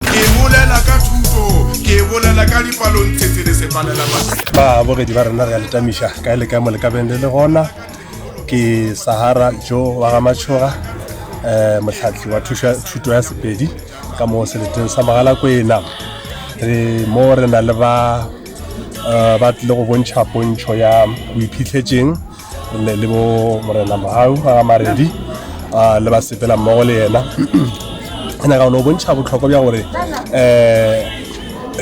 Ke bolela ka thuto, ke bolela ka dipalontshetse le sepalelamaswi. Babogedi ba rena re a le tamiša kae le kae mo le ka beng le le gona. Ke Sahara Joe wa ga Matšhoga, um motlhatli wa thuša- thuto ya Sepedi ka mo seleteng sa Mogalakwena. Re mo re na le ba um ba tlile go bontšha pontšho ya boiphihletseng. le le bo morena mogau ba ga maredi ah, le ba sepela mmogo le yena ke nyaka no bontšha botlhokwa bja gore um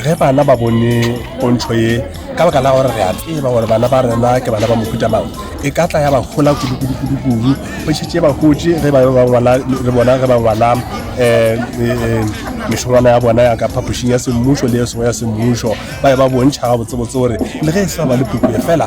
ge bana ba bone pontšho ye ka baka la gore re a tseba gore bana ba rena ke bana ba mohuta mang e ka tla ya ba gola kudukudukudukudu go šetse ba gotse ge ba bangwala re bona ge ba ngwala um eh, eh, mešongwana ya bona ya ka phapošing ya semmušo le e sengwe ya semmušo ba e ba bontšha ga botsebotse gore le ge e sa ba le puku e fela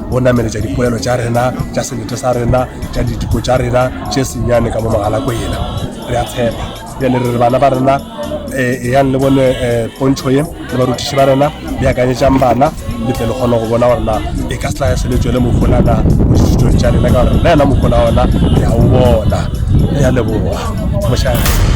go nameletša dipolelo tša rena tša sebete sa rena tša ditiko tša rena tše senyane ka mo magalako yena re a tshepa bjale re re bana ba rena um eyang le bone um pontšho ye le barutiši ba rena le akanyetšang bana le tle le kgone go bona gore na e ka setla se le tswele mofolana mo dithutong tša rena ka gore le yena mofola ona re a o bona re a leboga mošaa